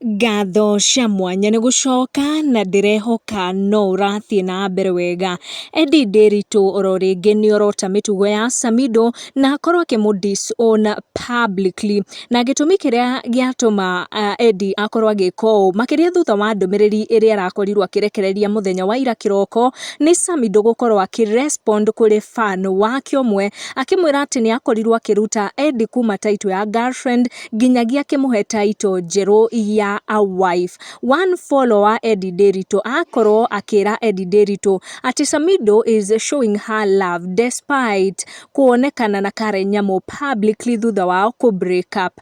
Ngatho cia mwanya nĩ gũcoka na ndĩrehoka no ũrathiĩ na mbere wega. Eddy Ndiritu oro rĩngĩ nĩ orota mĩtugo ya Samido na akorwo akĩmũ disown publicly. Na gĩtũmi kĩrĩa gĩatũma Eddy akorwo agĩka ũũ makĩria thutha wa ndũmĩrĩri ĩrĩa arakorirwo akĩrekereria mũthenya wa ira kĩroko nĩ Samido gũkorwo akĩ respond kũrĩ fan wake ũmwe akĩmwĩra atĩ nĩ akorirwo akĩruta Eddy kuma title ya girlfriend nginyagia akĩmũhe title njerũ ya a wife. One follower Eddie Ndiritu akorwo akĩra Eddie Ndiritu atĩ Samido is showing her love despite kuonekana na Karen Nyamu publicly thutha wao kũ break up.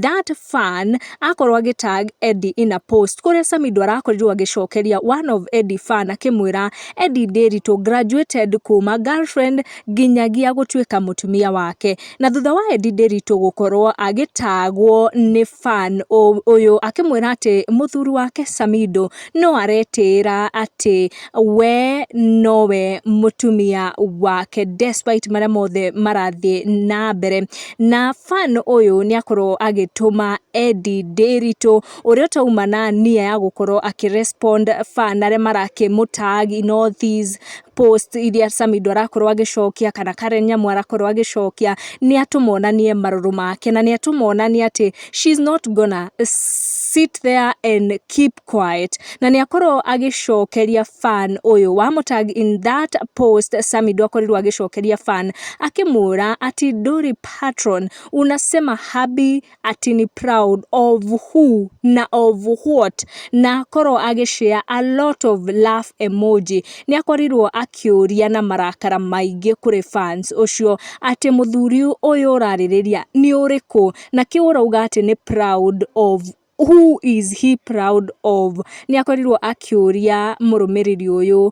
That fan akorwo agĩ tag Eddie in a post kũrĩa Samido arakorirwo agĩcokeria one of Eddie fan akĩmwĩra Eddie Ndiritu graduated kuma girlfriend nginyagia gũtuĩka mũtumia wake. Na thutha wa Eddie Nderitu gũkorwo agĩtagwo nĩ fan ũyũ akĩmwĩra atĩ mũthuri wake Samido no aretĩĩra atĩ we nowe mũtumia wake despite marĩa mothe marathiĩ na mbere. Na fan ũyũ nĩ akorwo agĩtũma Eddie Nderitu ũrĩa ũtauma na nia ya gũkorwo akĩ respond fan arĩa marakĩmũ tag in all these post iria Samido arakorwo agĩcokia kana Karen Nyamu arakorwo agĩcokia nĩ atũmonanie marũrũ make na nĩ atũmonanie atĩ she's not gonna sit there and keep quiet na nĩ akorwo agĩcokeria fan ũyũ wa mũtag in that post Samido akorirwo agĩcokeria fan akĩmwĩra ati Dori patron unasema habi atĩ nĩ proud of who na of what na akorwo agĩ share a lot of love emoji. Nĩ akorirwo akĩũria na marakara maingĩ kũrĩ fans ũcio atĩ mũthuri ũyũ ũrarĩrĩria nĩ ũrĩkũ na kĩu ũrauga atĩ nĩ proud of who is he proud of. Nĩ akorirwo akĩũria mũrũmĩrĩri ũyũ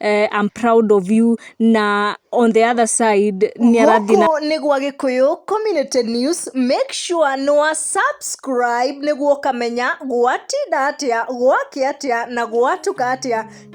eh, I'm proud of you na on the other side nĩ arathiĩ na gũkũ nĩ gwa gĩkũyũ community news make sure nĩ wa subscribe nĩguo ũkamenya gwatinda atĩa gwake atĩa na gwatuka atĩa